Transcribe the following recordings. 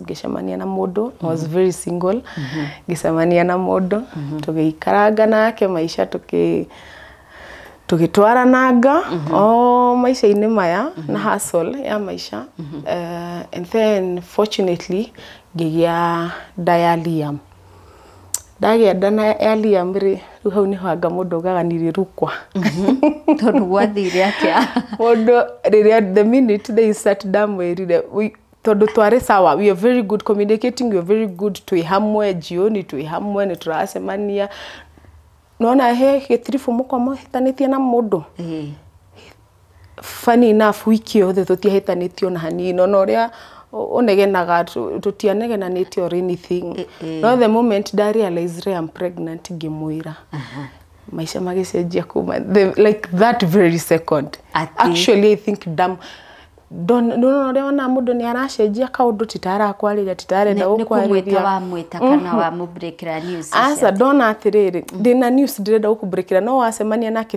ngĩcemania na mũndũ I was very single ngĩcemania na mũndũ tũgĩikaranga nake maica tũkĩ tũgĩtwarananga o maica-inĩ maya na hustle ya maica Eh, and then fortunately ngĩgĩa nda ya Liam Ndagĩa nda na ya Liam rĩ, rĩu hau nĩho anga mũndũ augaga nĩ rĩrukwa. Tondũ gwathire atĩa? Mũndũ rĩrĩa the minute they start ndamwĩrire we- tondũ twarĩ sawa we are very good communicating, we are very good twĩ hamwe jioni twĩ hamwe nĩ tũracemania. Nĩ wona he gĩtiribũ mũkoragwo mũhĩtanĩtie na mũndũ? Ĩĩ. Funny enough week ĩyo othe tũtiahĩtanĩtie ona hanini, ona ũrĩa ũnegenaga tũtianegenanĩte or anything, no the moment nda realise Ray I'm pregnant ngĩmwĩra, maica magĩcenjia kuma like that very second. Actually I think nĩ ũrona ũrĩa wonaga mũndũ nĩ aracenjia kaũndũ ti ta arakwarĩria ti ta arenda gũkwarĩria. Nĩ kũmwĩta wamwĩta kana wamũ break ĩra news. Aca ndona atĩrĩrĩ ndĩna news ndĩrenda gũkũ break ĩra no wacemania nake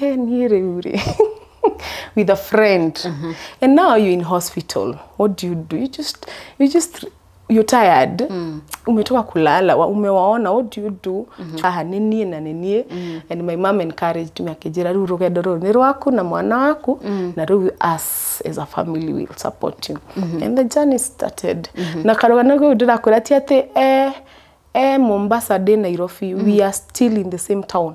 He, niĩ rĩu rĩ with a friend mm-hmm. and now you're in hospital what do you do you just you just you're tired mm. umetoka kulala wa- umewaona what do you do mm-hmm. aha nĩ niĩ na nĩ niĩ mm. and my mom encouraged me akĩnjĩra rĩu rũgendo rũrũ nĩ rwaku na mwana waku mm. na rĩu us as a family will support you mm-hmm. and the journey started mm-hmm. na karũgano kau ndĩrakwĩra ti atĩ eh, eh, mombasa ndĩ nairobi mm. we are still in the same town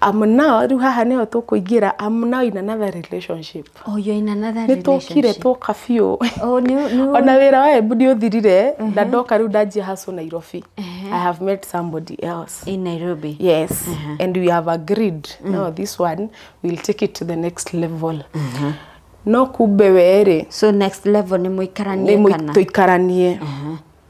I'm now, rĩu haha nĩho tũkũingĩra I'm now in another relationship Oh, you're in another nĩ tũkire relationship. twoka biũ Oh, nĩ nĩ ona wĩra wa embu nĩ ũthirire na ndoka rĩu ndanjia hacu nairobi i have met somebody else in Nairobi. yes and we have agreed now this one will take it to the next level no kumbe weerĩ So next level nĩ mũikaranie kana? tũikaranie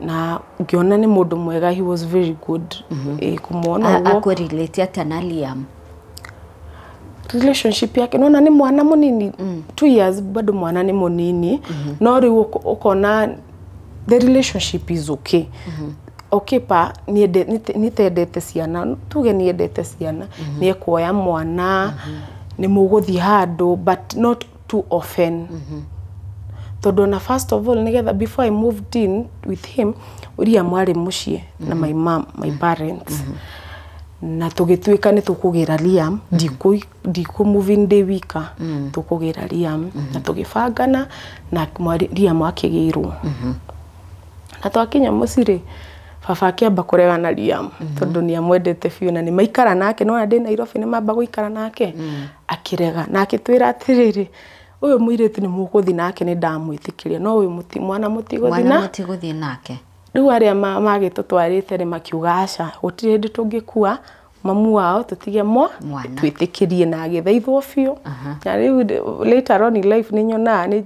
na ngĩona nĩ mũndũ mwega he was very good mm -hmm. kũmwona ũguo akũrelate atĩa na Liam relationship yake nona nĩ mwana mũnini mm. two years bado mwana nĩ mũnini mm -hmm. no rĩu ũkona the relationship is okay mm -hmm okipa nitendete ciana tuge niendete ciana mm -hmm. niekuoya mwana mm -hmm. ni muguthie handu but not too often tondå ona first of all nĩgetha before I moved in with him William arĩ mũciĩ na my mom my parents na tũgĩtuĩka nĩ tũkũgĩra Liam ndikũ- ndikũ move in ndĩ wika tũkũgĩra Liam na tũgĩbangana na mwarĩ- Liam akĩgĩirwo na twakinya mũciĩ rĩ baba akĩamba kũrega na Liam tondũ nĩ amwendete biũ na nĩ maikara nake nĩwona ndĩ Nairobi nĩ mamba gũikara nake Akĩrega na akĩtwĩra atĩrĩrĩ, ũyũ mũirĩtu nĩ mũgũthiĩ nake nĩ ndamwĩtĩkĩria, no ũyũ mwana mũtigũthiĩ nake. Rĩu arĩa magĩtũtwarĩte rĩ makiuga aca, gũtirĩ hĩndĩ tũngĩkua mamu wao tũtige mwana, twĩtĩkĩrie na agĩthaithwo biũ. Na rĩu later on in life nĩ nyonaga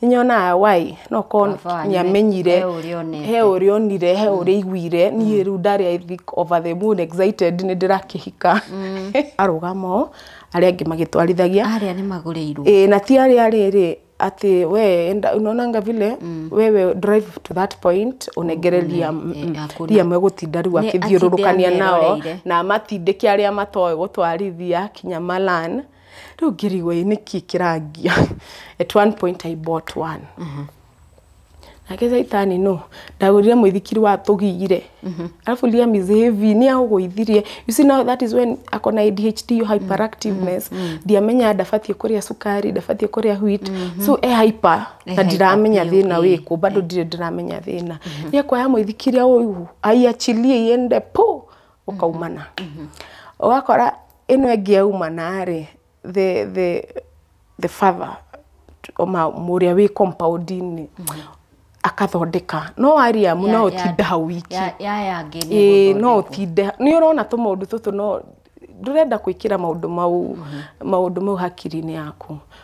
nyonaga wai no korwo Baba wanyu nĩ amenyire he ũrĩa onete. he ũrĩa onire he ũrĩa aiguire niĩ rĩu ndarĩ I think over the moon excited nĩ ndĩrakĩhika arũgama ũũ arĩa angĩ magĩtwarithagia arĩa nĩ magũrĩirwo Ĩĩ, na ti arĩa rĩrĩ atĩ we enda unaonanga vile wewe drive to that point unengere Liam eh, mm, hakuna. Liam egũtinda rĩu Nĩ akĩthiũrũrũkania atinde nao ameroreire. na matindĩke arĩa matoĩ gũtwarithia kinya malan Rĩu ngĩrigwo ĩ nĩkĩ kĩrangia. At one point I bought one. Nake caitani no, ndagũrire mũithikiri wa tũgire. Arabu Liam is heavy, nĩ aũgũithirie. You see now that is when ako na ADHD iyo hyperactiveness. Ndiamenyaga ndabatiĩ kũrĩa cukari, ndabatiĩ kũrĩa wheat. So e hyper na hyper ndiramenya biũ, thĩna ĩĩ. wĩkũ. Bado ndirĩ ndĩramenya thĩna. Nĩ ekuoya mũithikiri aũigu, aiachilie iende pũ! ũkaumana. Ũgakora ĩno ĩngĩ yaumana rĩ, the the the father ũrĩa wĩ compound -inĩ akathondeka. No waria amu no ũtinde hau wiki. Ĩĩ no ũtinde. Nĩ ũrona tũmaũndũ tũtũ no ndũrenda gwĩkĩra maũndũ mau maũndũ mau hakiri-inĩ yaku.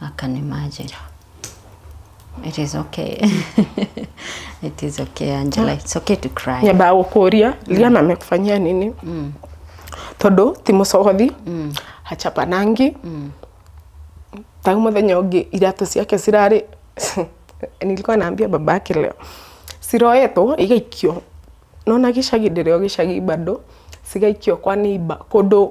I can imagine. It is okay. It is okay, Angela. It's okay to cry. nyambaga gũkũria liana amekufanyia nini tondũ ti mũcogothi hachapanangi tau mũthenya ũngĩ iratũ ciake cirarĩ nilikuwa naambia baba yake leo ciroetwo igaikio nona gĩcagi ndĩrĩo gĩcagi bado cigaikio kwa neighbor kũndũ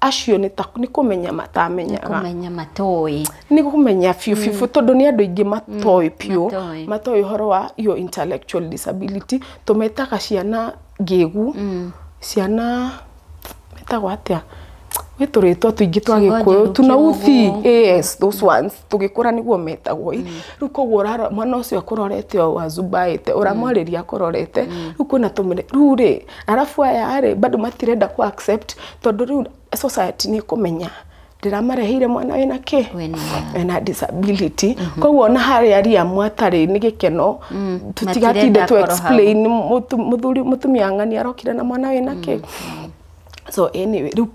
acio nĩ ta nĩ kũmenya matamenyaga kũmenya matoĩ nĩ kũmenya biũ biũ biũ tondũ nĩ andũ aingĩ matoĩ biũ matoĩ. matoĩ ũhoro wa iyo intellectual disability tũmetaga ciana ngĩgu ciana metagwo atĩa gwĩ tũrĩtwa tũingĩ twa Ciugo gĩkũyũ njũru, tuna uthi kĩũgũ. yes those ones tũgĩkũra nĩguo metagwo i rĩu koguo ũrarora mwana ũcio akũrorete o azumbaĩte ũramwarĩria akũrorete rĩu kwĩna tũmene rĩu rĩ arabu aya rĩ bado matirenda kũ accept tondũ rĩu society nĩ ĩkũmenya ndĩramareheire mwana wĩna kĩ Wĩna. wĩna disability koguo ona harĩa ariamu atarĩ nĩ gĩkeno tũtigatinde Matirenda tu akorwo hau. explain mũtu- mũthuri mũtumia ng'ani arokire na mwana wĩna kĩ so anyway rĩu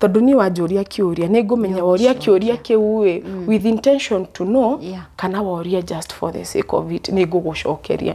tondũ niĩ wanjũria kĩũria nĩ ngũmenya woria kĩũria kĩu ĩ with intention to know Yeah. kana woria just for the sake of it nĩ ngũgũcokeria